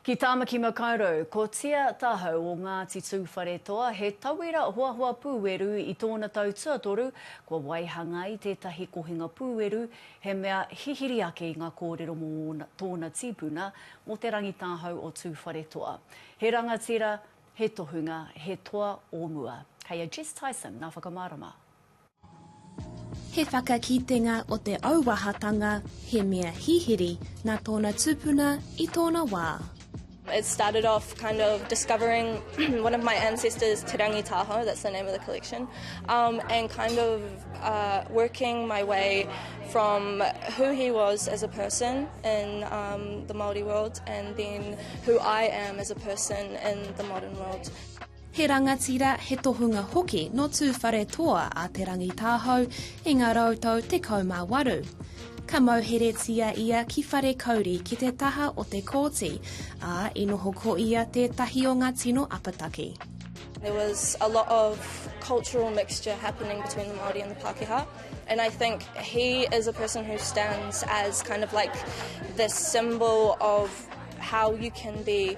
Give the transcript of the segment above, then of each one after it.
Ki Tāmaki Makaurau, ko Tia Tahau o Ngāti Tūwharetoa, he tauira hoahoa pūeru i tōna tau tuatoru kua waihanga ai tētahi kohinga pūeru, he mea hihiri ake i ngā kōrero mō ōna, tōna tīpuna, mō Te Rangitahau o Tūwharetoa. He rangatira, he tohunga, he toa o mua. Kei a Jess Tyson ngā whakamārama. He whakakitenga o te auahatanga he mea hihiri na tona tupuna i tona wa. It started off kind of discovering one of my ancestors, Te Rangitaho, that's the name of the collection, um, and kind of uh, working my way from who he was as a person in um, the Māori world and then who I am as a person in the modern world. He rangatira, he tohunga hoki nō Tūwharetoa a Te Rangitahou i ngā rau tau tekau mā waru. Ka mauheretia ia ki Wharekauri ki te taha o Te Kooti, ā, i noho ko ia tētahi o ngā tino apataki. There was a lot of cultural mixture happening between the Māori and the Pākehā and I think he is a person who stands as kind of like the symbol of how you can be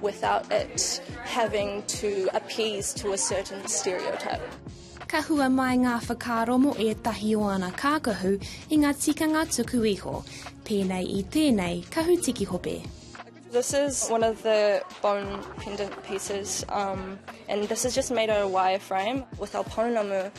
without it having to appease to a certain stereotype. Ka hua mai ngā whakaaro mō ētahi o ana kākahu i ngā tikanga tuku iho, pēnei i tēnei kahu tiki hope. This is one of the bone pendant pieces, um, and this is just made out of wireframe. With our pounamu,